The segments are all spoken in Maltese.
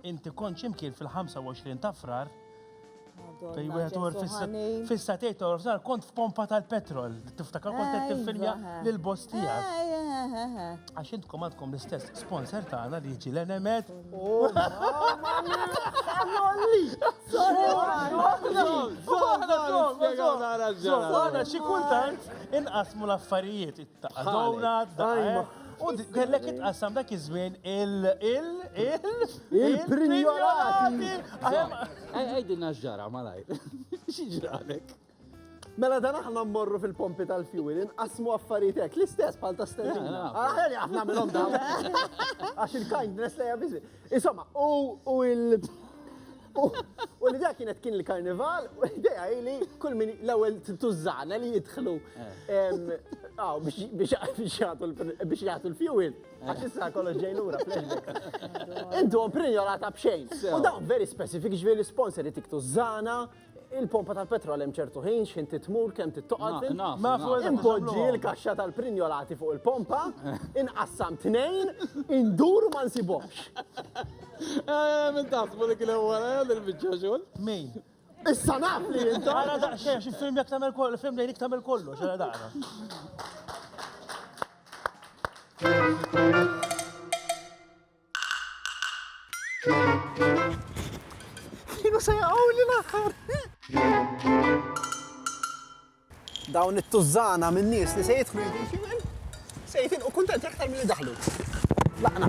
Inti kont ximkien fil-25 ta' frar. Fej wieħed uħor fissa tgħid toħor frar kont f'pompa tal-petrol. Tiftakar kont qed tiffilmja lil boss tiegħek. Għax intkom għandkom l-istess sponsor tagħna li jiġi l-enemet. Għana xi kultant inqasmu l-affarijiet it-taqqa. Dawna, dajma. U kellek itqassam dak iż-żmien il il il il-prinjolati. Għajdin naġġara malaj. Xieġralek? Mela dan aħna mmorru fil-pompi tal-fuel, inqasmu affaritek, l-istess bħal ta' stellina. Aħna li aħna minnhom dawn. Għax il-kindness li jabizmi. Insomma, u il- U l-idea kienet kien il-karnival, u l-idea li kull min l-ewel tużana li jidħlu biex jgħatu l-fuel, għax issa kollox ġej lura flashback. Intu għom prinjolata bxejn. U dawn very specific ġviri l-sponsor jtik tużana, Il-pompa tal-petrol hemm ċertu ħin x'ħin titmur kemm tittoqgħod. Impoġġi l-kaxxa tal-prinjolati fuq il-pompa, inqassam tnejn, induru ma nsibhomx. Eh, min taħsbu li kien ewwel eh, din il-biċċa xogħol? Min? Issa naf li inta. Ara daqsxejn xi film jekk tagħmel kollu, film lejlik tagħmel kollu, xara daqra. Kienu se jaqgħu li l-aħħar. Dawn it-tużżana minn nies li se jidħlu jidħlu se jitilqu kuntenti aktar milli daħlu. Laqna.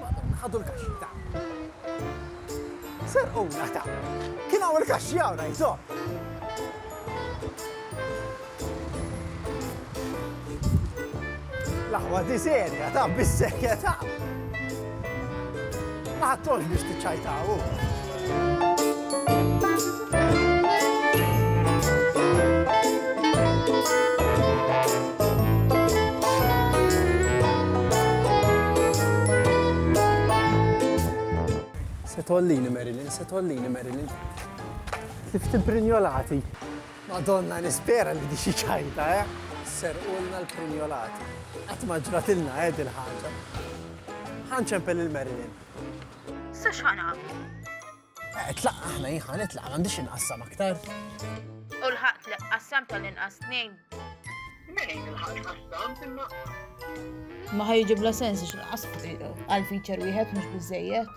Madonna, ħadu l-kaxxi, ta. Serquna, ta. Kien hawn il-kaxxi hawn, għajn sod. L-aħwa di serja, ta, bis-serja, ta. Ma ħadthomx biex tiċċajtaw hu. Se tgħollini Marilyn, se tgħollini Marilyn. Kif timprinjolati. Madonna nispera li di xi ċajta eh! Serqulna l-prinjolati. Qatt ma ġratilna eh dil ħaġa. Ħa nċempel il-Marilyn. Sa x'ħan nagħmlu? Eh, tlaq aħna jien ħa nitlaq m'għandix inqassam aktar. U l-ħaqt li qassam tal-inqas tnejn. Nejn il-ħaqt qassam imma. Ma ħajġib la sens x'inqas għal feature wieħed mhux biżejjed.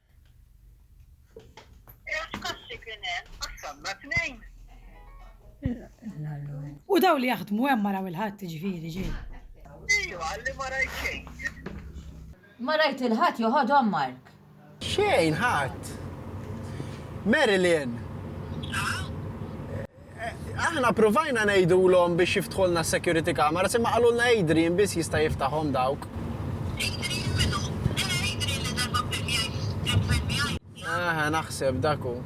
U daw li jaħdmu hemm maraw il-ħadd ġifieri ġej. Ejwa, li ma rajt xejn. Ma rajt il-ħadd joħodhom Mark. Xejn ħadd. Marilyn. Aħna pruvajna ngħidulhom biex jiftħulna s-security cameras imma qalulna Adrian biss jista' jiftaħhom dawk. Adrian minnu? Eħe Adrian li darba kien qiegħed fil-VIP. Eħe naħseb dak hu.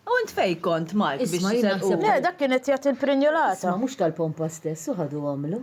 U int fejn kont Mark biex tiselquhom? Le dak kien qed jagħti l-prinjolata. Isma' mhux tal-pompa stess u ħadu għamlu.